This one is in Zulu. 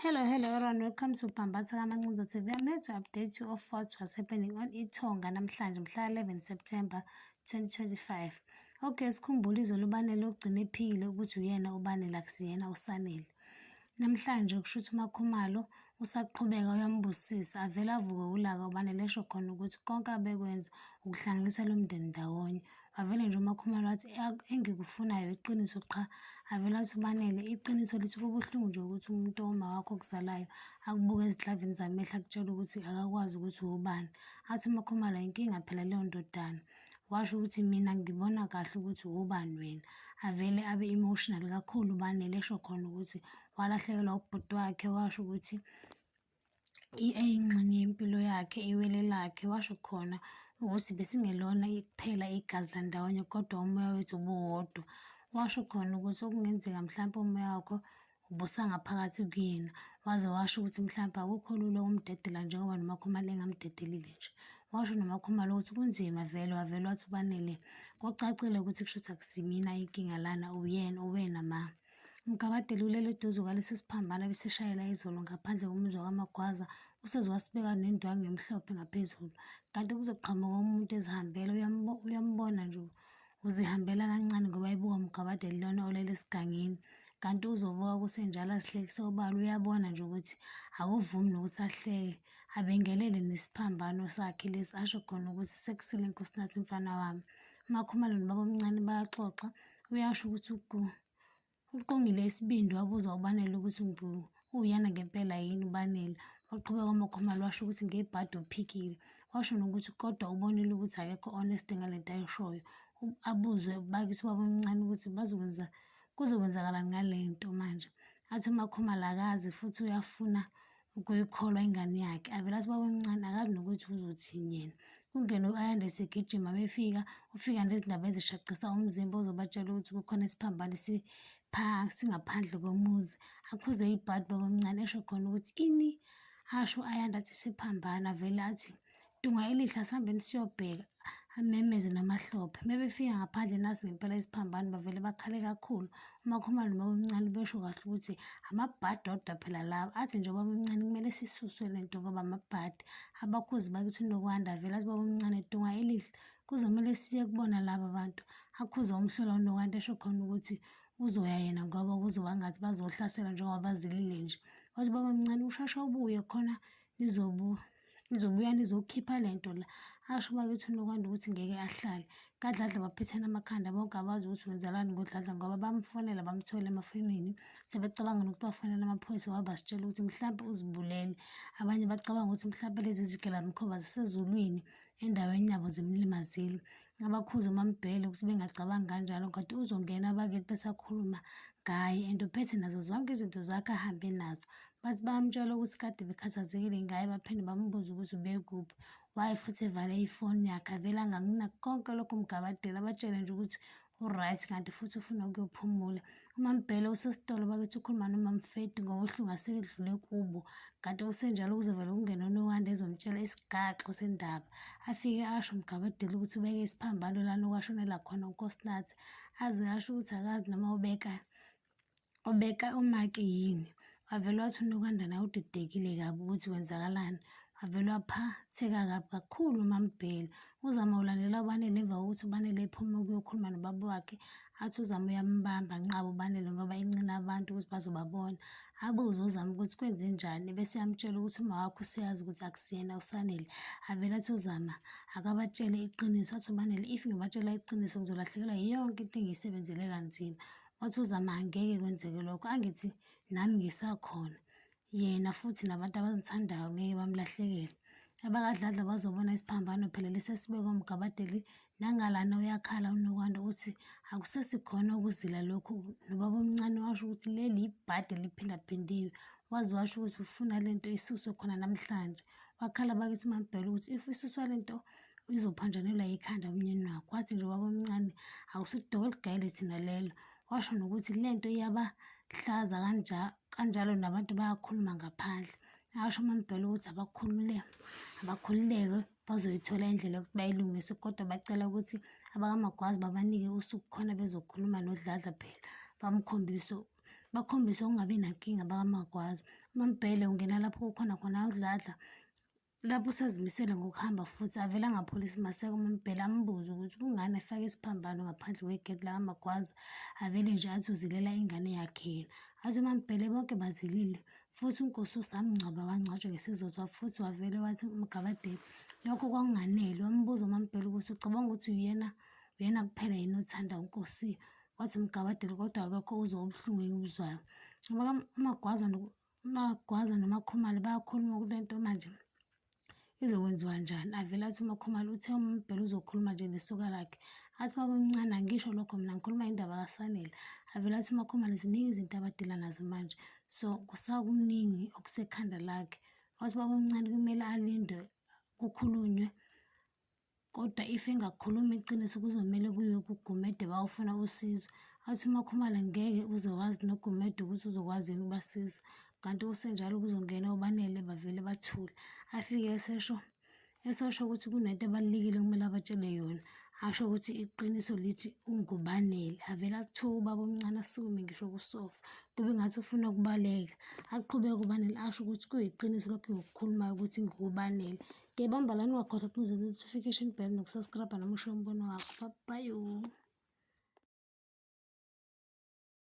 Hello, hello everyone. Welcome to Bambatha Kamancinza TV. I'm here to update you of what was happening on Itonga namhlanje mhla 11 September 2025. Okay, sikhumbule izolo uBanele ogcina ephikile ukuthi uyena uBanele akusiyena uSanele. Namhlanje kusho ukuthi uMakhumalo usaqhubeka uyambusisa avele avuke ulaka uBanele esho khona ukuthi konke abekwenza ukuhlanganisa lo mndeni ndawonye. Avele nje uMakhumalo athi engikufunayo iqiniso qha. Avele athi uBanele iqiniso lithi kubuhlungu nje ukuthi umuntu owumawakho okuzalayo akubuke ezidlavini zamehlo akutshele ukuthi akakwazi ukuthi uwubani. Athi uMakhumalo inkinga phela leyo ndodana. Washo ukuthi mina ngibona kahle ukuthi uwubani wena. Avele abe emotional kakhulu uBanele esho khona ukuthi walahlekelwa ubhuti wakhe washo ukuthi eyingxenye yempilo yakhe, iwele lakhe, washo khona ukuthi besingelona kuphela igazi landawonye kodwa umoya wethu ubuwodwa. Washo khona ukuthi okungenzeka mhlawumpe umoya wakho ubusangaphakathi kuyena, waze washo ukuthi mhlawumpe akukho lula ukumdedela njengoba noMakhumalo engamdedelile nje. Washo noMakhumalo ukuthi kunzima vele, wavele wathi uBanele, kucacile ukuthi kushuthi akusimina inkinga lana, uyena, uwena mah. Umgabadeli ulele eduze kwalesi siphambano ebesishayela izolo ngaphandle komuzwa kaMagwaza useze wasibeka nendwangu emhlophe ngaphezulu kanti kuzoqhamuka umuntu ezihambela uyambona nje uzihambela kancane ngoba ebuka umgabadeli lona olele esigangeni kanti uzovuka kusenjalo azihlekise obala uyabona nje ukuthi akuvumi nokuthi ahleke abengelele nesiphambano sakhe lesi asho khona ukuthi sekusele nkosinathi mfana wami umakhumalo nobaba omncane bayaxoxa uyasho ukuthi ugu uqongile isibindi wabuza ubanele ukuthi ngu uyana ngempela yini ubanele waqhubeka umakhomalo washo ukuthi ngebhadi uphikile washo nokuthi kodwa ubonile ukuthi akekho honest ngale nto ayishoyo abuzwe bakise ubaba omncane ukuthi bazokwenza kuzokwenzakalani ngale nto manje athi umakhomalo akazi futhi uyafuna ukuyikholwa ingane yakhe. Avele athi ubabamncane akazi nokuthi uzothini yena. Kungene u-Ayanda esegijima befika, ufika nezindaba ezishaqisa umzimba ozobatshela ukuthi kukhona isiphambano singaphandle komuzi. Akhuze ibhadi ubabamncane esho khona ukuthi ini? Asho u-Ayanda athi siphambana avele athi Dungayelihle asihambeni siyobheka amemeze namahlophe. Mebefika ngaphandle nasi ngempela isiphambano bavele bakhale kakhulu. UMakhumalo nobabamncane besho kahle ukuthi amabhadi odwa phela lawa. Athi nje ubabamncane kumele sisuswe le nto ngoba amabhadi. Abakhuzi bakithi uNokwanda avele athi ubabamncane dunga elihle kuzomele siye kubona laba bantu. Akhuze umhlola uNokwanda esho khona ukuthi uzoya yena ngoba kuzoba ngathi bazohlasela njengoba bazilile nje. Wathi ubabamncane ushasha ubuye khona Lizobuya, lizobuya lizokhipha le nto la. Asho bakithi uNokwanda ukuthi ngeke ahlale. KaDladla baphethene amakhanda bonke abazi ukuthi wenzelani ngoDladla ngoba bamfonela bamthole emafonini. Sebecabanga nokuthi bafonela amaphoyisa ngoba basitshela ukuthi mhlawumbe uzibulele. Abanye bacabanga ukuthi mhlawumbe lezi zigilamkhuba zisezulwini endaweni yabo zimlimazile. abakhuze uMaMbhele ukuthi bengacabangi kanjalo kade uzongena abakithi besakhuluma ngaye and uphethe nazo zonke izinto zakhe ahambe nazo bathi bayamtshela ukuthi kade bekhathazekile ngaye baphinde bambuze ukuthi ubekuphi waye futhi evale ifoni yakhe avele angakunaki konke lokhu mgabadela abatshele nje ukuthi u-right kanti futhi ufuna ukuyophumula UMaMbhele usesitolo bakithi ukhuluma noMaMfedi ngobuhlungu asebedlule kubo kanti kusenjalo kuzovela ukungena uNowanda ezomtshela isigaxo sendaba afike asho uMgabadeli ukuthi ubeke isiphambano lana okwashonela khona uNkosinathi aze asho ukuthi akazi noma ubeka ubeka umaki yini Wavele wathi uNokandana udidekile kabi ukuthi kwenzakalani. Wavele waphatheka kabi kakhulu uMaMbhele. UZama ulandela uBanele emva kokuthi uBanele ephume ukuyokhuluma nobaba wakhe, athi uZama uyambamba nqaba uBanele ngoba enqina abantu ukuthi bazobabona. Abuze uZama ukuthi kwenzenjani, bese eyamtshela ukuthi umawakhe useyazi ukuthi akusiyena uSanele. Avele athi uZama akabatshele iqiniso, athi uBanele if ngibatshela iqiniso ngizolahlekelwa yonke into engiyisebenzele kanzima. Wathi uZama angeke kwenzeke lokho, angithi nami ngisakhona yena futhi nabantu abamthandayo ngeke bamlahlekele abakadladla bazobona isiphambano phela lesi esibekwa mgabadeli nangalana uyakhala unokwanda ukuthi akusesikhona ukuzila lokhu nobaba omncane washo ukuthi leli yibhadi eliphindaphindiwe waze washo ukuthi ufuna le nto isuswe khona namhlanje wakhala bakithi umambhela ukuthi if isuswa le nto izophanjanelwa yikhanda umnyeni wakho wathi nje ubaba omncane akusidoko eligayele thina lelo washo nokuthi le nto iyabahlaza kanjalo nabantu bayakhuluma ngaphandle asho uMambhele ukuthi abakhulule abakhululeke bazoyithola indlela yokuthi bayilungise kodwa bacela ukuthi abakamagwazi babanike usuku khona bezokhuluma nodladla phela bamkhombise bakhombise ukungabi nankinga bakamagwazi uMambhele ungena lapho kukhona khona udladla Lapho usazimisele ngokuhamba futhi avele angapholi isimaseko uMbhele ambuze ukuthi kungani efake isiphambano ngaphandle kwegeti lakamagwaza avele nje athi uzilela ingane yakhe yena athi uMambhele bonke bazilile futhi unkosi usamngcwaba wangcwatshwa ngesizotha futhi wavele wathi umgabadeli lokho kwakunganele wambuza uMambhele ukuthi ucabanga ukuthi uyena uyena kuphela yini othanda unkosi wathi umgabadeli kodwa akekho uzwa ubuhlungu engibuzwayo amagwaza UMagwaza noMakhumalo bayakhuluma kule nto manje izokwenziwa njani. Avele athi uMakhumalo uthe uMbhele uzokhuluma nje nesuka lakhe. Athi baba omncane angisho lokho mina ngikhuluma indaba kaSanele. Avele athi uMakhumalo ziningi izinto abadila nazo manje. So kusakuningi okusekhanda lakhe. Wathi baba omncane kumele alindwe kukhulunywe Kodwa if engakhuluma iqiniso kuzomele kuyiwe kuGumede bawufuna usizo. Athi uMakhumalo ngeke uze wazi noGumede ukuthi uzokwazi yini ukubasiza. Kanti kusenjalo kuzongena obanele bavele bathule. Afike esesho esosho ukuthi kunento ebalulekile okumele abatshele yona. Asho ukuthi iqiniso lithi ungubanele. Avele akuthuke ubaba omncane asukume ngisho kusofa. Kube ngathi ufuna ukubaleka. Aqhubeke ubanele asho ukuthi kuyiqiniso lokho ngokukhulumayo ukuthi ngubanele. Ngiyabamba lani wakhona ukuze notification bell nokusubscribe noma usho umbono wakho. Bye bye.